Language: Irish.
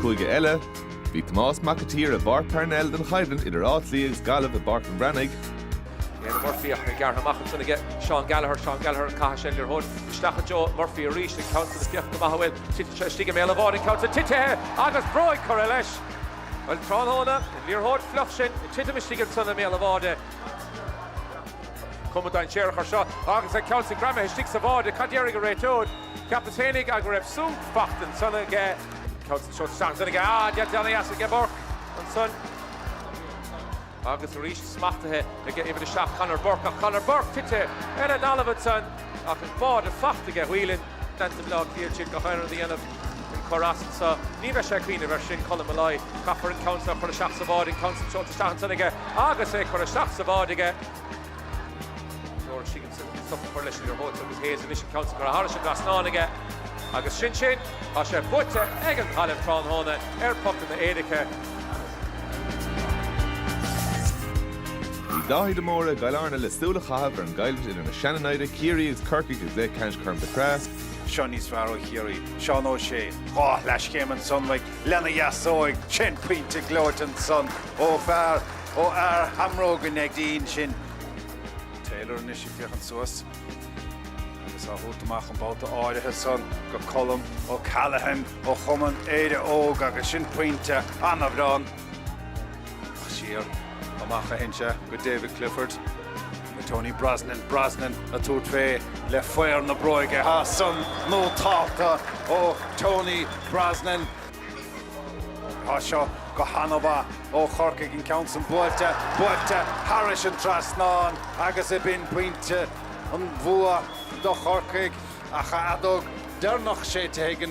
Chuige eile, Bhí Tomás Mac a tSaoir i bPáirc Parnell don choimhlint idir Áth Cliath agus Gaillimh i bPáirc an Bhreathnaigh. Éanna Murphy ach é gearrtha amach ansin aige Seán Gallagher, Seán Gallagher ag caitheamh na liathróide isteach Joe Murphy arís an ceann san féach go maith a bhfuil tite seo istigh i mbéal an bháide, an ceann san tite agus bróig curtha leis! Bhuel tráthnóna an liathróid fliuch sin ag titim istigh ansan i mbéal an bháide. Cuma dainséarach ar seo agus an ceann san greamaithe istigh sa bháide, cad déarfaidh an réiteoir? Cheapas féinig a go raibh sonc fachta ansan aige. Cosúil go raibh seans aige. Á, deir Johnny as aige Burke ansan. Agus arís smachtaithe aige uimhir a seacht, Conor Burke, ach Conor Burke tite ar an talamh ansan ach an báide fachta aige. Whelan, Dance of Love, ag iarraidh a dhéanamh den chor san so. Ní bheidh sé ag cuimhneamh air sin. Colm Molloy, Caithfear an ceann seo a chur isteach sa bháide, an ceann san seolta isteach ansan aige. Agus é ag cur isteach sa bháide aige, Stop a chur leis an liathróid agus Hayes anois an ceann san curtha thairis an trasnán aige agus sin sin! Tá sé buaite ag an Ghaillimh tráthnóna ar phocanna éirice. Bhí Dáithí de Mórdha, i gCill Airne le súil a chaitheamh ar an gcoimhlint idir na seananaimhde, Ciarraí agus Corcaigh i gcluiche ceannais Chorn Mhic Craith. seo níos fearr ó Chiarraí, Seán Ó Sé, dhá shleaschéim ansan istigh lena dheasóig, sin pointe gleoite ansan ó fear ó fhear, Shamróga an Neidín sin. Taylor anois ag féachaint suas agus á thabhairt amach an babhta áirithe san go Colm O'Callaghan ó chumann Éire Óg agus sin pointe ana-bhreá ann siar amach a théann sé go David Clifford go Tony Brosnan, Brosnan ag tabhairt fé le faobhar na bróige, tá san nótálta ó Tony Brosnan. Tá seo go han-mhaith ó Chorcaigh, an ceann san buailte, buailte thairis an trasnán agus ab in pointe an bhua do Chorcaigh ach an fheadóg dheireanach séidte ag an.